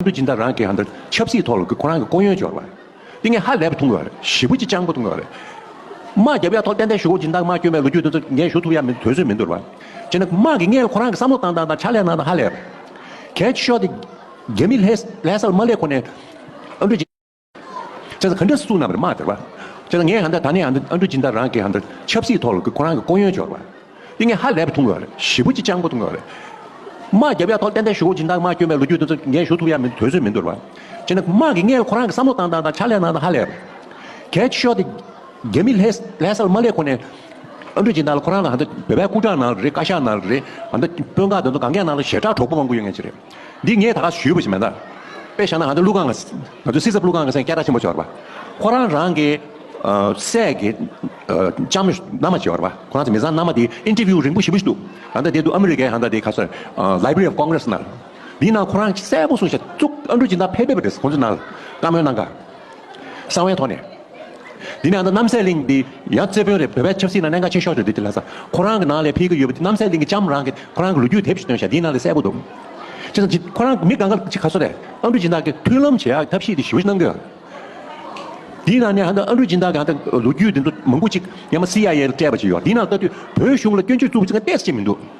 ཨ་མདོ་སྦྱིན་བདག་རང་གིས་ཨ་མདོ་ཆབ་སྲིད་ཐོག་ལ་ཁོ་རང་གི་ལྐོག་གཡོན་སྦྱོར་བ། ཏི་ངེ་ཧ་ལས་པ་ཐུང་བ་རེད་ཞི་བུ་ཅི་ཅང་པོ་ཐུང་བ་རེད། དམག་རྒྱབ་ཡ་ཐོག་གཏན་གཏན་བཞུགས་སྦྱིན་བདག་དམག་སྐྱོན་པའི་ལོ་རྒྱུས་དེ་ཚོ་ངས་ཞུ་ཐུབ་ཡ་མི་དོན་སུས་མི་འདོར་བ། བྱས་ན་དམག་གིས་ངས་ལ་ཁོ་རང་གི་བསམ་བློ་བཏང་བཏང་དང་ཕྱག་ལས་གནང་གནང་ཧ་ལས་པ། གལ་ཆེ་ཤོས་དེ་རྒྱ་མི་ལྷས་ལྷས་ས་ལ་མ་སླེབས་གོང་ནས་ཨ་མདོ་སྦྱིན། ཅེས་སོགས་གང་འདྲ་གསུངས་རྣམ་པར་སྨྲ་སྟེར་བ། ཅེས་སོགས་ངས་ཧ་འདྲ་ད་ནི་ཨ་འདྲ་སྤྱི་ལྟར་རང་གི་ཧ་འདྲ་ཆབ་སྲིད་ཐོག་ལ་ཁོ་རང་གི་ལྐོག་གཡོན་འཆོར་བ། ཏིང་ངེ་ཧ་ལས་པ་འཐུང་དགོས་པ་རེད་ཞེ་པོ་ཅི་ཅང་པོ་འཐུང་དགོས་པ་རེད། དམག་རྒྱབ་ཡ་ཐོག་གཏན་གཏན་བཞུགས་སྦྱིན་བདག་མ་བསྐྱོན་པའི་ལོ་རྒྱུས་དེ་ཚོ་འགན་ཞུ་ཐུབ་ཡ་མི་འདུག་དོལ་ཚོས་མི་འདོར་བ། ཅེས་ན་དམག་གིས་ངས་ཁོ་རང་གི་བསམ་བློ་བཏང་བཏང་དང་ཕྱག་ལས་གནང་དང་ཧ་ལས་པ། གལ་ཆེ་ཤོས་དེ། རྒྱ་མི་ལྷས་ལྷས་སར་མ་སླེབས་གོང་ནས། ཨ་འདྲ་སྦྱིན་བདག་ལ་ཁོ་རང་ལ་ཧ་འདྲ་བོད་པའི་སྐུ་དྲག་གནང་རེད་བཀའ་ཤག་གནང་རེད་ཨ་འདྲ་དཔོན་ཁག་དེ་ཚོ་གང་མཁས་གནང་རེད་ཞེ་དྲག་གྲོགས་པོ་མང་པོ་ཡོད་ངེས་ཅི་རེད། འདི་ངས་ད་ག་ཞུས་པ་ཞིག་མེད། དཔེ་བཞག་ན་ང་ཚོའི་ཀླུ་ཁང་གི། ང་ཚོའི་སྲིད་ཚབ་ཀླུ་ཁང་གི་སེང་སྐྱ་སྒྲ་ཆེན་པོ་ཤོར་བ། ཁོ་རང་རང་གི། སྲས་ཀྱི། ལྕམ། མནའ་མ་ཤོར་བ། ཁོ་རང་ཚོའི་མི་བཟང་མནའ་མ་དེ interview རིང་པོ་ཞིབ་པོ་ཞིག་འདུག། ད་ལྟ་དེ་འདུག་ཨ་མི་རི་ཀའི་ད་ལྟ་དེ་ག་སོན། Library of Congress ནང། དེའི་ནང་ཁོ་རང་གསལ་པོ་གསུངས་བཞག་གཙུག། ཨ་མདོ་སྦྱིན་བདག་ཕལ་པའི་བ་རེད་ཁོང་ཚོའི་ནང་ལ་བཀའ་མོལ་གནང་ཁར། གསང་བའི་ཐོག་ནས། འདི་ནས་ཨ་མདོ་རྣམ་སྲས་གླིང་འདི་ཡང་རྩེ་དཔོན་རེད་བོད་པའི་ཆབ་སྲིད་ནང་གནད་འགག་ཆེ་ཤོས་རེད་འདི་དེ་ལྷ་ས་ཁོ་རང་གི་ནང་ལས་ཕེབས་ཀྱི་ཡོད་པ་འདི་རྣམ་སྲས་གླིང་གི་ལྕམ་རང་གི་ཁོ་རང་གི་ལོ་རྒྱུས་དེབ་ཞིག་སྟོན་ཤག་འདིའི་ནང་ལས་གསལ་པོ་འདུག་ཅི་ཙམ་ཁོ་རང་མི་ག་འགའ་ཅིག་ག་ཚོད་རེད་ཨ་འབྲུ་སྦྱིན་བདག་གི་མཐུན་ལམ་བྱེད་ཡག་ཐབས་ཤེས་དེ་ཞིབ་གནང་གི། འདིའི་ནང་ནས་ཨ་མདོ་ཨ་འབྲུ་སྦྱིན་བདག་གི་ལོ་རྒྱུས་འདི་ཚོ་མང་པོ་ཅིག་ཡང་མ་སི་ཡ་ཡའི་སྤྲད་པ་ཞིག་ཡོད་འདིའི་ནང་ལྟ་དུས་བོད་གཞུང་ལ་སྐྱོན་བརྗོད་བཙུགས་པ་ཅི་ག་གཏད་སྲིད་ཀྱི་མི་འདུག།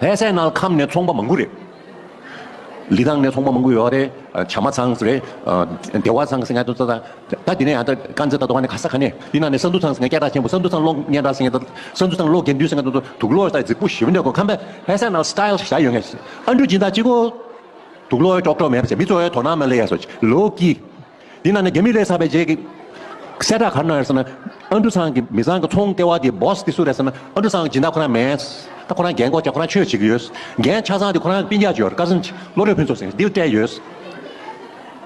ལྷའི་སའི་ནང་ཁམས་ནས་ཚོང་པ་མང་པོ་རེད། ལི་ཐང་ནས་ཚོང་པ་མང་པོ་ཡོད་རེད། བྱ་མ་ཚང་རེད། སྡེ་བ་ཚང་སེང་གེ་ཚང། ད་དེ་ནས་ཡང་དཀར་མཛེས་དང་དོ་ཁ་ནས་ཁ་ས་ཁ་ནས། དེ་ནང་ནས་ས་འདུ་ཚང་སེང་གེ་སྐྱ་བྲག་ཆེན་པོ་ས་འདུ་ཚང་གློག་བརྙན་བྲག་སེང་གེ། ས་འདུ་ཚང་གློག་དགེ་འདུན་སེང་གེ་དུག་ལོའི་ས་རྫིག་པོ་བཞི་བོ་འདི་གོ་ཁམས་པའི་ལྷའི་སའི་ནང Style བཞག་ཡོད་ངེས། ཨ་འབྲུག་སྦྱིན་བདག་གཅིག་གོ། དུག་ལོའི་ཅོག་གྲོག་མེད་པ་བྱས་མི་གཙོ་བའི་དོ་སྣང་མ་གླས་ཡ་སོ། ལོ་ཀི། འདི་ན་ནི་རྒྱ་མི་ལས་ས་པའི་རྗེས་ཀྱི། གསལ་བསྒྲགས་གར་གནང་ཡར་ཟེར་ན། ཨ་འབྲུ་ཚང་གི་མི་བཟང་གི་ཚོང་ལྟེ་བ་དེའི Boss དེ་སུ་རེད་ཟེར་ན་ཨ་འབྲུ་ཚང་སྦྱིན་བདག་ཁོ་རང་མེད། ད་ཁོ་རང་རྒྱན་འགོག་བྱ་ཁོ་རང་ཆོས་བྱེད་ཀྱི་ཡོད། རྒྱན་ཆ་ཚང་དེ་ཁོ་རང་པིན་རྒྱག་བྱེད་ཡོད Cousins བློ་གྲོས་ཕུན་ཚོགས་སེང་ལྡེའུ་སྤྲད་ཡོད། བྱས་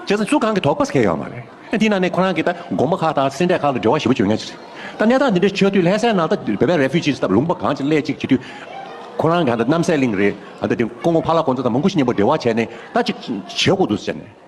ཙང་སུ་གང་གི་དོགས་པ་ཟེར་ཡོད་མ་རེད། འདི་ན་ནི་ཁོ་རང་གི་ད་དགོངས་པ་ཁག་དང་སེམས་འཁྲལ་ཁག་ལ་འབྲེལ་བ་ཞིབ་པོ་བྱོས་ངེས་རེད། ད་གནས་སྟངས་འདི་འདྲའི་ཆོས་དུས་ལྷད་སའི་ནང་ད་བོད་པའི Refugees སྟབས་ལུང་པ་གང་ཅི་སླད་ཅིག་བྱེད་དུས། ཁོ་རང་གི་ད་གནམ་སའི་གླིང་རེད། ད་དེ་ཀོང་ཀོང་ཕ་ལགས་ཀོང་ཙེ་དང་མོང་གུ་ཤི་གཉེན་པོ་འབྲེལ་བ་བྱས་ནས་ད་ཅིག་བྱེད་དགོས་འདུག་ཟེར་ནས།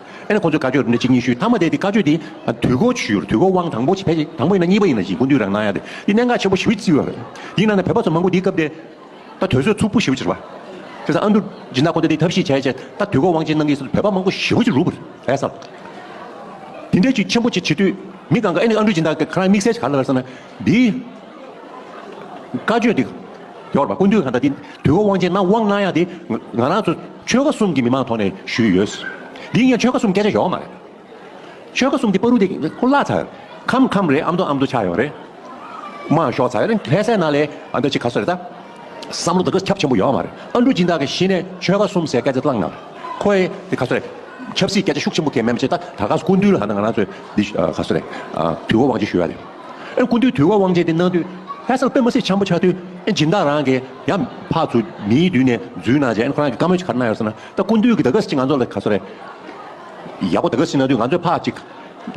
ཨེ་ན་ཁོ་ཚོས་བཀའ་ཆོས་རེ་འབྲི་གཅིག་གཉིས་ཤུས་ཐག་མ་བསྡད་དེ་བཀའ་ཆོས་དེ་དུས་འགོ་ཆུར་དུས་འགོ་དབང་དང་པོ་ཕལ་ཆེ་དང་པོ་ཡིན་ན་གཉིས་པ་ཡིན་ན་བཞི་འགོ་འདུས་རང་གནང་ཡ་དེ་འདི་གནད་འགག་ཆེན་པོ་ཞིབ་བརྩི་བ་རེད་ཡིན་ན་ན་བོད་པ་ཚོ་མང་པོ་འདི་སྐབས་དེ་ད་དུས་ཚོད་ཚུགས་པོ་ཞིབ་བརྩི་བ་དེ་ས་ཨ་འདུ་སྦྱིན་བདག་ཁོ་ཚོ་དེ་ཐབས་ཤེས་བྱས་བྱས་ད་དུས་འགོ་དབང་ཆེན་གནང་གི་བོད་པ་མང་པོ་ཞིབ་བརྩི་རུ་བ་རེད་བསམ་དེ་འདྲས་ཅིག་ཆེན་པོ་ཅིག་བྱེད་དུས་མི་གང་ག་ཨེ་ན་ཨ་འདུ་སྦྱིན་བདག་གི་ཁ་རང་དམིགས་བསལ་ག་ལ་ལ་བསམ་ན། འདིའི་བཀའ་ཆོས་འདི་ཡོར་བ་སྐུ་མདུན་གང་ལྟར་འདི་དུས་འཁོར་དབང་ཆེན་ནང་དབང་གནང་ཡག་འདི་ང་རང་ཚོ་ཆོལ་ཁ་གསུམ་གྱི་མི་མང་ཐོག་ནས་ཞུས་ཡོད། འདི་ངས་ཆོལ་ཁ་གསུམ་སྐད་ཆ་ཡོང་མ་རེད། ཆོལ་ཁ་གསུམ་འདི་པ་རུ་འདི་ཁོ་བླ་ཚར་ཁམ་ཁམ་རེད་ཨམ་དུ་ཨམ་དུ་ཆགས་ཡོང་རེད། མ་ཞོག་ཚར་ལྷས་སྲས་ནང་ལས་ཨ་འདྲ་ཅིག་ག་སོ་རེད་ད། བསམ་བློ་དག་ག་ཁྱབ་ཆེན་པོ་ཡོང་མ་རེད་ཨ་འབྲུག་སྦྱིན་བདག་གི་གཞི་ནས་ཆོལ་ཁ་གསུམ་ཟེར་སྐད་ཆ་བླངས་ན་རེད་ཁོ་ཨེ་འདི་ག་སོ་རེད། ཆབ་སྲིད་སྐད་ཆ་ཤུགས་ཆེན་པོ་ཁས་མེད་མ་བྱེད་ད་ད་ག་སོ་སྐུ་མདུན་ལ་ད་ང་རང་ཚོས་འདི་ག་སོ་རེད་དུས་འཁོར་དབང་ཆེན་ཞུས་ཡག་འདི། ཨེ་ཀུན་དུས་དུས་དབང་བཅས་ཏེ་སྣང། དུས་ལྷའི་སར་པདྨ་སྲས་འཆམ་པོ་ཆགས། དུས་སྦྱིན་བདག་རང་གི་ཡབ། འཕགས་ཚུལ་མིའི་དུས་ནས་བརྫུས་ན་བྱས། ཁོ་རང་གི་བཀའ་མོལ་གྱི་ཁར་སྣང་ཡོད་ཟེར་ན། ད་ཀུན་དུས་ཀྱི་ད་ག་ཟེར་གྱི་ང་ཚོ་ལ་ག་ཚོད་རེད། ཡག་པོ་ད་ག་ཟེར་ན་དུས་ང་ཚོས་ཕག་ཅིག།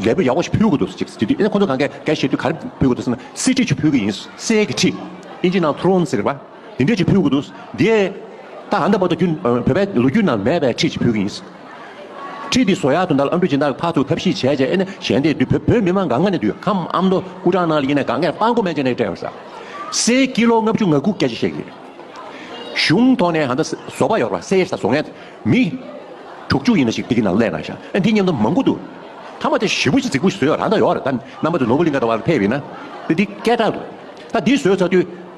ལས་བུ་ཡག་པོ་ཞིག་ཕུལ་དགོས་འདུག་ཟེར་གྱི་དུས་ཁོ་ཚོ་གང་ག་ག་བྱས་དུས་ག་རེ་ཕུལ་དགོས་འདུག་ཟེར་ན། གསེར་ཁྲི་ཆུ་ཕུལ་གྱི་ཡིན། གསེར་གྱི་ཁྲི། ཨིན་ཇི་ནང་ཐུ་རོན་ཟེར་བ། དེ་འདྲས་ཀྱི་ཕུལ་དགོས་འདུག་དེ། ད་གང་འདྲ་བར་དུ་རྒྱུན་བོད་པའི་ལོ་རྒྱུས་ནང་མེད་པའི་ཁྲིད་ཅིག་ཕུལ་གྱི་ཡིན། ཁྲིད་དེ་བཟོ་ཡག་ཏུ་འདར་ལ་ཨ་མདོའི་སྦྱིན་བདག་ཕར་ཚུར་ཐབས་ཤེས་བྱས་བྱས་ནས་གཞན་དེ་དུས་བོད་མི་མང་ག་ང་ནས་དུས་ཁམ་ཨ་མདོ་སྐུ་དྲག་ནང་ལ་ཡིན་ནས་ག་ངས་དཔའ་མགོ་མན་ཆད་ནས་སྤྲད་ཡོང་ས། སའི་སྐྱིད་ལོ་ལྔ་བཅུ་ང་དགུ་སྐད་ཆ་བཤད་གི་རེད། གཞུང་ཐོག་ནས་ཧ་འདྲ་བཟོ་པ་ཡོར་བ་སའི་ས་བཟོ་ངས་མི། དྲུག་བཅུ་ཡིན་ན་ཞིག་དེ་གི་ནང་གླས་གནང་ཞག་འདི་སྙམ་ན་མང་པོ་འདུག་ཐ་མ་དེ་བཞི་པོ་ཞིག་རྫིག་པོ་ཞིག་བཟོས་ཡོར་རང་འདྲ་ཡོར་ད་རྣམ་པ་དེ་ནོར་བུ་གླིང་ག་འདྲ་བ་ལ་ཕེབས་ཡིན་ན་དེ་འདི་སྐད་གྲགས་འདུག་ད་འདི་བཟོས་ཚར་དུས།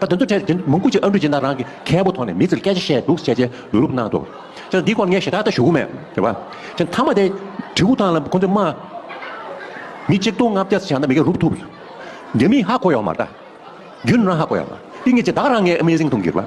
ད་དོན་དུ་འཕྲལ་དེ་མོང་གུ་གཅིག་ཨ་འབྲུ་སྦྱིན་བདག་རང་གི་ཁའི་བུ་དོང་ནས་མི་ཚིར་སྐད་ཆ་བཤད་འདུག་བཤད་བྱའི་ལུས་རུབ་གནང་འདུག་ཅེ་ན་འདི་སྐོར་ངས་ཞེ་དྲག་ལྟ་ཞུ་མེད་དེ་བ། ཅེ་ན་མཐའ་མ་དེ་གྲི་གུག་ཐང་ལ་ཁོང་ཚོས་སྨྲ། མི་གཅིག་སྟོང་ལྔ་བརྒྱ་བྱས་ན་མི་སྐད་རུབ་ཐུབ། རྒྱ་མིས་ཧ་གོ་ཡོག་མ་ལྟ། རྒྱུན་རང་ཧ་གོ་ཡོག་མ། ཏིང་ངེ་འཛིན་བདག་རང་ངས Amazing གཏོང་གི་རེད་བ།